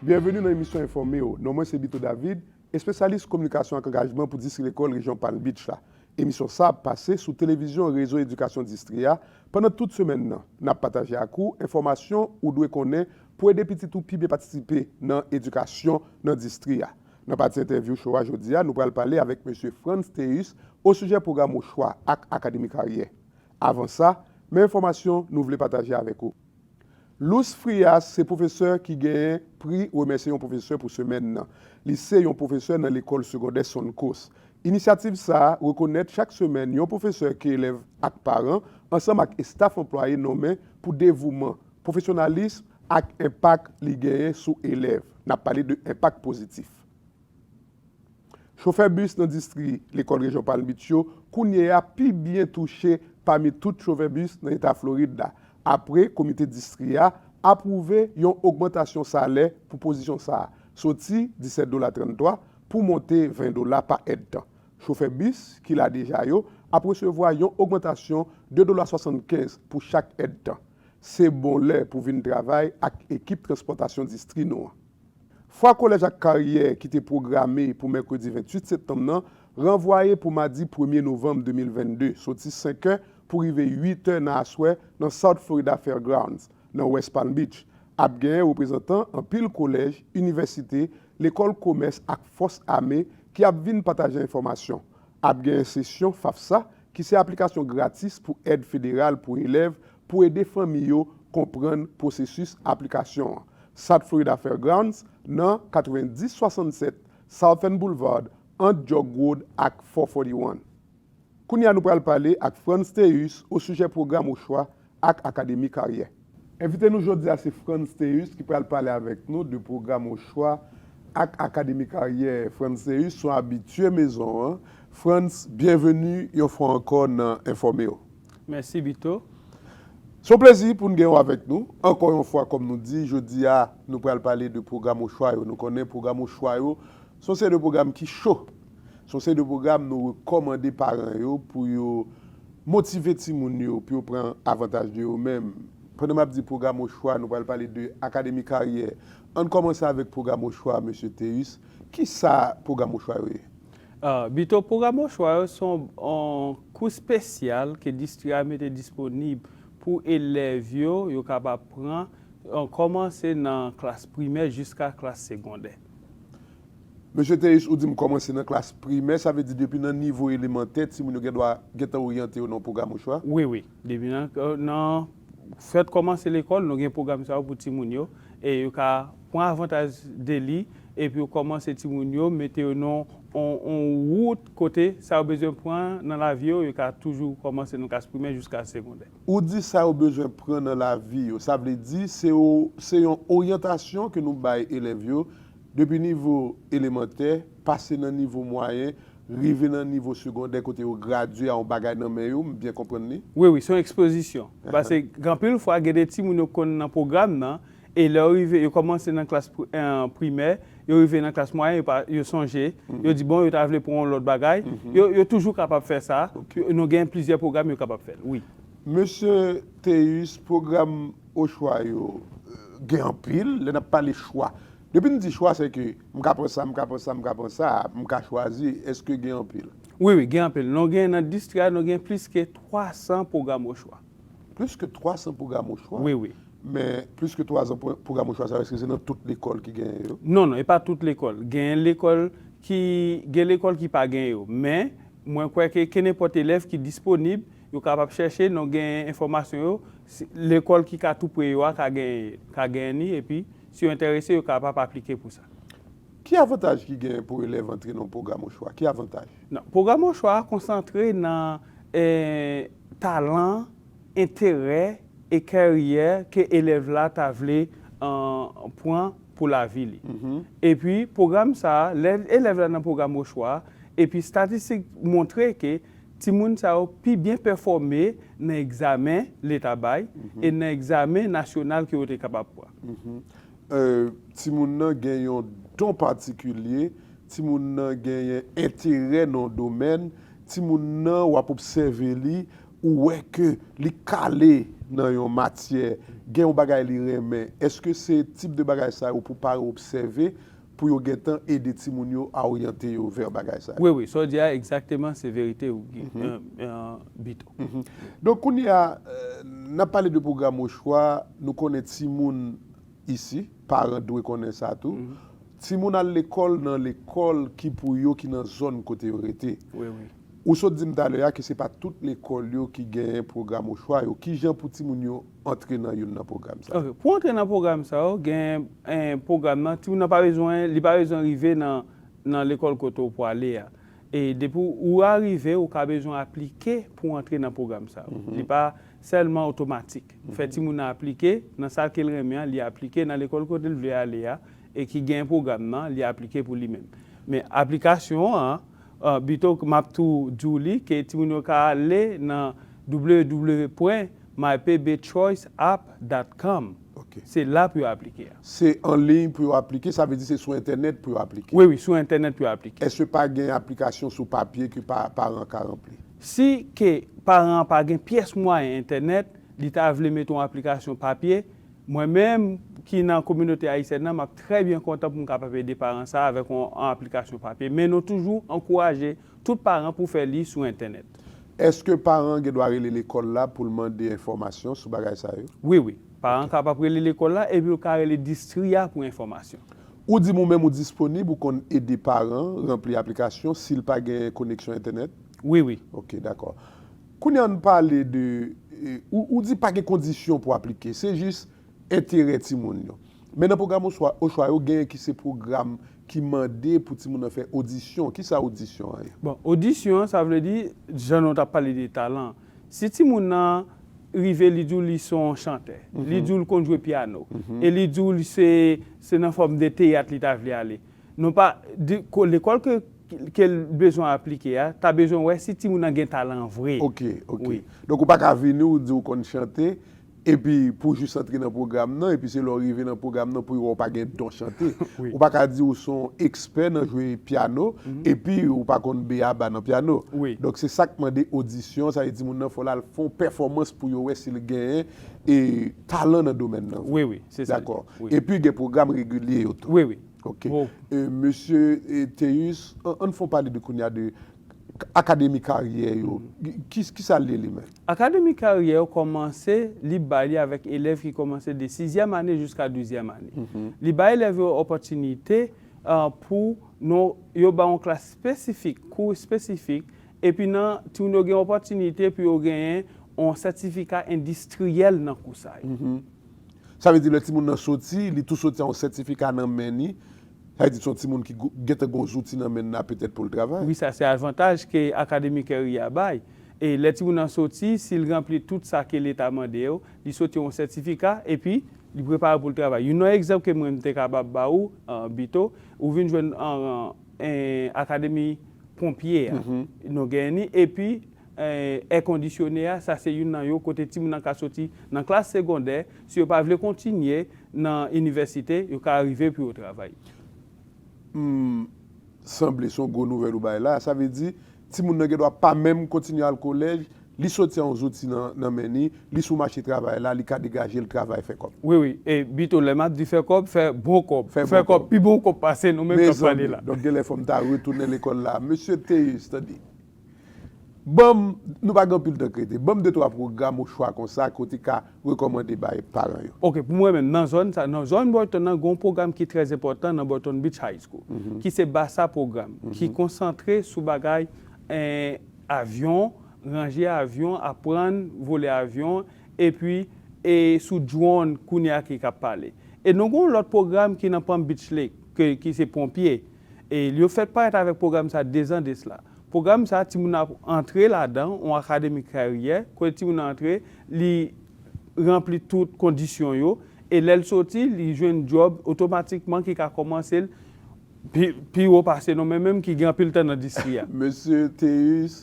Byenveni nan emisyon Enfòme w! Non mwen se Bito David, espesyalis kominikasyon ak angajman pou Distri Lekòl Rejyon Palm Beach la. Emisyon sa ap pase sou televizyon Rezo Edikasyon Distri a pandan tout semèn nan. N ap pataje ak ou enfòmasyon ou dwe konnen pou ede pitit ou pi byen patisipe nan edikasyon nan distri a. Nan pati entèvyou show a jodi a, nou pral pale avèk Mesye Frantz Théus osijè pwogram Ochwa ak Akademi Karyè. Avan sa, men enfòmasyon nou vle pataje avèk ou. Lous Frias se pwofesè ki genyen pri Remèsye yon pwofesè pou semèn nan. Li se yon pwofesè nan lekòl segondè Suncoast. Inisyativ sa a rekonèt chak semèn yon pwofesè ke elèv ak paran, ansanm ak estaf anplwaye nonmen pou devouman, pwofesyonalism ak enpak li genyen sou elèv. N ap pale de enpak pozitif. Chofè bis nan distri lekòl rejyon Palm Beach yo kounye a pi byen touche pami tout chofè bis nan eta Florid la, apre komite distri a apwouve yon ogmantasyon salè pou pozisyon sa a, soti 17 dola 33 pou monte 20 dola pa èdtan. Chofè bis ki la deja yo ap resevwa yon ogmantasyon 2 dola 75 pou chak èdtan. Se bon lè pou vin travay ak ekip transpòtasyon distri nou an. Fwa Kolèj ak Karyè ki te pwograme pou mèkredi 28 septanm nan ranvwaye pou madi premye novanm 2022, soti senkè pou rive uitè nan aswè nan South Florida Fairgrounds, nan West Palm Beach. Ap gen reprezantan anpil kolèj, inivèsite, lekòl komès ak fòs ame ki ap vin pataje enfòmasyon. Ap gen sesyon FAFSA, ki se aplikasyon gratis pou èd federal pou elèv pou ede fanmi yo konprann pwosesis aplikasyon an. South Florida Fairgrounds, nan 9067 Southern Boulevard, ant Jug Road ak 441. Kounye a nou pral pale ak Frantz Théus osijè pwogram ochwa ak Akademi Karyè. Envite nou jodi a se Frantz Théus ki pral pale avèk nou de pwogram ochwa ak Akademi Karyè. Frantz Théus son abitye mezon an. Frantz, byenveni yon fwa ankò nan Enfòmew. Mèsi Bito. Se yon plezi pou n gen w avèk nou ankò yon fwa kòm nou di jodi a nou pral pale de pwogram ochwa yo nou konnen pwogram ochwa yo se yon seri de pwogram ki cho se yon seri de pwogram nou rekòmande paran yo pou yo motive timoun yo pou yo pran avantaj de yo men pandan m ap di pwogram ochwa nou pral pale de akademi karyè an n kòmanse avèk pwogram ochwa mesye Théus kisa pwogram ochwa yo ye? Bito, Pwogram Bon Chwa yo se yon kou spesyal ke distri a mete disponib pou elèv yo, yo kapab pran kòmanse nan klas primè jiska klas segondè. Mesye Théus, ou di m kòmanse nan klas primè, sa vle di depi nan nivo elemantè timoun yo gen dwa gentan oryante yo nan yon pwogram ochwa? Wi, wi. Depi nan fèt kòmanse lekòl, nou gen pwogram sa yo pou timoun yo, e yo ka pran avantaj de li, epi yo kòmanse timoun yo, mete yo nan yon wout kote sa yo bezwen pran nan lavi yo, yo ka toujou kòmanse nan klas primè jiska segondè. Ou di sa yo bezwen pran nan lavi yo, sa vle di se yon oryantasyon ke nou bay elèv yo Depi nivo elemantè, pase nan nivo mwayen, rive nan nivo segondè kote yo gradye a yon bagay nan men yo, m byen konprann li? Wi, wi, se yon ekspozisyon. Pase anpil fwa gen de timoun yo konn nan pwogram nan, e lè yo rive, yo kòmanse nan klas primè, yo rive nan klas mwayen, yo pa, yo sonje, yo di bon, yo ta vle pran yon lòt bagay, yo, yo toujou kapab fè sa, nou gen plizyè pwogram yo kapab fè l, wi. Mesye Théus, pwogram. O chwa yo gen anpil. Lè n ap pale chwa, depi n di chwa se ke m ka pran sa, m ka pran sa, m ka pran sa, m ka chwazi. Eske gen anpil? Wi, wi, gen anpil. Nou gen nan distri a, nou gen plis ke 300 pwogram o chwa. Plis ke 300 pwogram o chwa? Wi, wi. Men, plis ke 300 pwogram o chwa sa yo, eske se nan tout lekòl ki genyen yo? Non, non, e pa tout lekòl. Genyen lekòl ki, gen lekòl ki pa genyen yo. Men, mwen kwè ke kenenpòt elèv ki disponib, Yo kapab chèche non genyen enfòmasyon yo, lekòl ki ka tou pre yo a ka genyen ka genyen li epi si yo enterese yo kapab aplike pou sa. Ki avantaj ki genyen pou elèv antre nan pwogram ochwa? Ki avantaj? Nan pwogram ochwa a konsantre nan talan, enterè e karyè ke elèv la ta vle pran pou lavi li. Epi pwogram sa a, lè elèv la nan pwogram ochwa a epi statistik montre ke Timoun sa yo pi byen pèfòme nan egzamen leta bay e nan egzamen nasyonal ke yo te kapab pran. Timoun nan gen yon don patikilye, timoun nan genyen enterè nan yon domèn, timoun nan w ap obsève li, ou wè ke li kale nan yon matyè, gen yon bagay li renmen. Èske se tip de bagay sa yo pou paran obsève pou yo gentan ede timoun yo a oryante yo vè bagay sa yo. Wi, wi, sa w di a egzakteman se verite Bito. Donk kounye a, n ap pale de pwogram ochwa, nou konnen timoun isi, paran dwe konnen sa tou, timoun al lekòl nan lekòl ki pou yo ki nan zòn kote yo rete. Ou sot di m talè a ke se pa tout lekòl yo ki genyen pwogram ochwa yo. Kijan pou timoun yo antre nan youn nan pwogram sa yo? Ok, pou antre nan pwogram sa yo, gen pwogram nan, timoun nan pa bezwen, li pa bezwen rive nan nan lekòl kote ou pwale a. E depi ou arive, ou ka bezwen aplike pou antre nan pwogram sa yo. Li pa sèlman otomatik. Ou fè timoun nan aplike nan sa ke l renmen an, li aplike nan lekòl kote l vle ale a e ki gen pwogram nan, li aplike pou li menm. Men aplikasyon an, Bito k map tou di w li ke timoun yo ka ale nan www.mybabychoiceapp.com Ok. Se la pou yo aplike a. Se an liy pou yo aplike, sa vle di se sou entènèt pou yo aplike. Wi wi, sou entènèt pou yo aplike. Eske pa gen aplikasyon sou papye ke paran an ka ranpli? Si ke paran an pa gen pyès mwayen entènèt, li ta vle mete yon aplikasyon papye, Mwen menm, ki nan kominote ayisyèn nan, m ap trè byen kontan pou m kapab ede paran sa a avèk yon aplikasyon papye, men nou toujou ankouraje tout paran pou fè li sou entènèt. Èske paran an gen dwa rele lekòl la pou l mande enfòmasyon sou bagay sa yo? Wi, wi. Paran an kapab rele lekòl la epi l ka rele distri a pou enfòmasyon. Ou di m ou menm ou disponib, ou konn ede paran ranpli aplikasyon si l pa gen koneksyon entènèt? Wi, wi. Ok, dakò. Kounya ann pale de, ou di pa gen kondisyon pou aplike, se jis enterè timoun yo. Men nan pwogram ochwa yo genyen ki se pwogram ki mande pou timoun nan fè odisyon, ki sa odisyon an ye? Bon, odisyon an sa vle di, jan nou tap pale de talan, si timoun nan rive li di w li son chantè, li di w li konn jwe pyano, e li di w se nan fòm de teyat li ta vle ale, non pa, lekòl ke. ke l bezwen aplike a, ta bezwen wè si timoun nan gen talan an vre. Ok, ok. Donk ou pa ka vini ou di ou konn chante, epi pou jis antre nan pwogram nan, epi se lè ou rive nan pwogram nan pou yo wè ou pa gen don chante. Ou pa ka di ou se yon ekspè nan jwe pyano, epi ou pa konn b-a-ba nan pyano. Donk se sa k mande odisyon, sa vle di timoun nan fò l al fè yon pèfòmans pou yo wè si l genyen talan nan domèn nan vre. Dakò. Epi gen pwogram regilye yo tou. Ok. Mesye Théus, an n fon pale de kounye a de Akademi Karyè yo. Ki sa l ye li menm? Akademi Karyè yo kòmanse, li bay li avèk elèv ki kòmanse de sizyèm ane jiska douzyèm ane. Li bay elèv yo opòtinite pou nou, yo ba yon klas espesifik, kou espesifik, epi nan timoun yo gen opòtinite pou yo genyen yon sètifika endistriyèl nan kou sa yo. Sa vle di lè timoun nan soti, li tou soti a yon sètifika nan men ni. Sa vle di son timoun ki gen tan gen yon zouti nan men n na petèt pou l travay. Wi sa se avantaj ke Akademi Curry a bay. E lè timoun nan soti, si l ranpli tout sa ke leta mande yo, li soti yon sètifika epi li prepare pou l travay. Youn nan egzanp ke mwen m te kapab ba ou Bito, ou vin jwenn Akademi Ponpye a. Nou gen ni epi èkondisyone a, sa se youn nan yo, kote timoun nan ka soti nan klas segondè, si yo pa vle kontinye nan inivèsite, yo ka rive pou yo travay. Humm, sanble son gwo nouvèl ou bay la, sa vle di, timoun nan gen dwa pa menm kontinye al kolèj, li soti a yon zouti nan men li, li sou mache travay la, li ka degaje l travay fè kòb. Wi wi, e Bito lè map di fè kòb, fè bon kòb, fè kòb, pi bon kòb pase nou menm kap pale la. Mezanmi, donk genlè fòm ta retounen lekòl la, Mesye Théus, tande. Banm, nou pa gen anpil tan krete, banm de twa pwogram ou chwa konsa ke w te ka rekòmande bay paran yo. Ok, pou mwen menm, nan zòn sa, nan zòn Burton nan, gen yon pwogram ki trè enpòtan nan Burton Beach High School, ki se BASA pwogram, ki konsantre sou bagay avyon, ranje avyon, aprann vole avyon, epi e sou drone kounye a ki kab pale. E nou gen yon lòt pwogram ki nan Palm Beach Lake, ke ki se ponpye. E yo fèt parèt avèk pwogram sa dezan desla. Pwogram sa, timoun nan ap antre ladan on akademi karyè, kote timoun nan antre, li ranpli tout kondisyon yo, e lè l soti, li jwenn djòb otomatikman ki ka kòmanse l pi pi wo pase nou menm menm ki gen anpil tan nan distri a. Mesye Théus,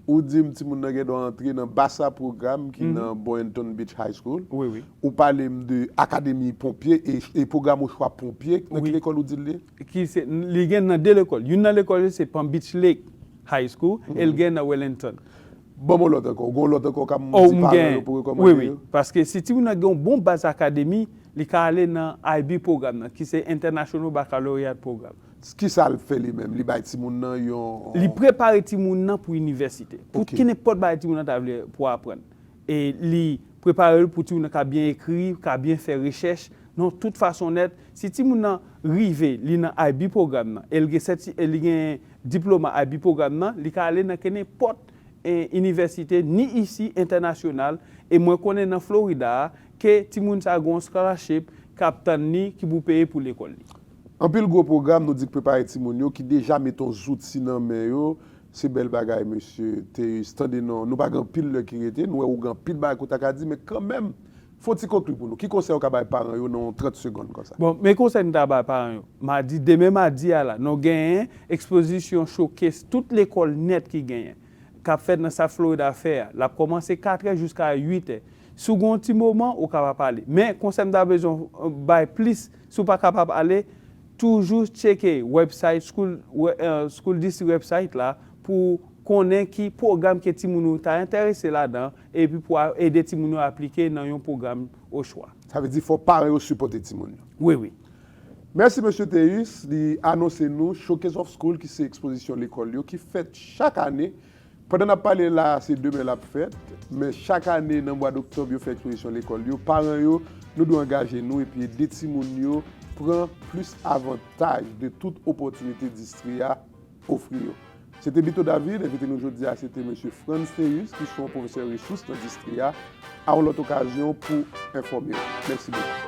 ou di m timoun nan gendwa antre nan Bassa Program ki nan Boynton Beach High School. Ou pale m de akademi ponpye e pwogram ochwa ponpye, nan ki lekòl ou di l ye? ki se, li gen nan 2 lekòl. Youn nan lekòl yo se Palm Beach Lake High School e l gen nan Wellington. Ban mwen lòt ankò. Ou gen yon lòt ankò kab di paran yo pou rekòmande yo? Wi, wi. Paske si timoun nan gen yon bon baz akademi, li ka ale nan IB pwogram nan, ki se International Baccalaureate Program. Ki sa l fè li menm? Li bay timoun nan yon. Li prepare timoun nan pou inivèsite. Pou kenenpòt bagay timoun nan ta vle pou aprann. e li prepare l pou timoun nan ka byen ekri, ka byen fè rechèch, nan tout fason nèt. Si timoun nan rive, li nan IB pwogram nan, e l gen sèti, e li gen diploma IB pwogram nan, li ka ale nan kenenpòt inivèsite, ni isi, entènasyonal, e mwen konnen nan Florida a, ke timoun sa a gen yon scholarship k ap tann li, ki pou peye pou lekòl li. Anpil gwo pwogram nou di k prepare timoun yo, ki deja mete yon zouti nan men yo, Se bèl bagay mesye Théus tande non nou pa gen anpil lè ki rete nou wè ou gen anpil bagay ke w ta ka di men kanmenm fon ti konkli pou nou ki konsèy ou ka bay paran yo nan yon 30 segonn konsa. Bon men konsèy m ta bay paran yo madi demen madi a la nou genyen ekspozisyon showcase tout lekòl nèt ki genyen k ap fèt nan South Florida fè a l ap kòmanse katrè jiska uitè si w gen yon ti moman ou kapab ale men konsèy m ta bezwen w bay plis si w pa kapab ale Toujou tcheke website school school district website la pou w konnen ki pwogram ke timoun ou ta enterese ladan epi pou a ede timoun yo aplike nan yon pwogram ochwa. Sa vle di fò paran yo sipòte timoun yo. Wi, wi. Mèsi Mesye Théus, li anonse nou Showcase of School ki se ekspozisyon lekòl yo ki fèt chak ane Pandan n ap pale la a, se demen l ap fèt, men chak ane nan mwa doktòb yo fè ekspozision lekòl yo. Paran yo, nou dwe angaje nou epi ede timoun yo pran plis avantaj de tout opòtinite distri a ofri yo. Se te Bito David, envite nou jodi a se te Mesye Frantz Théus ki son pwofesè resous nan distri a. A yon lòt okazion pou enfòme ou. Mèsi bokou.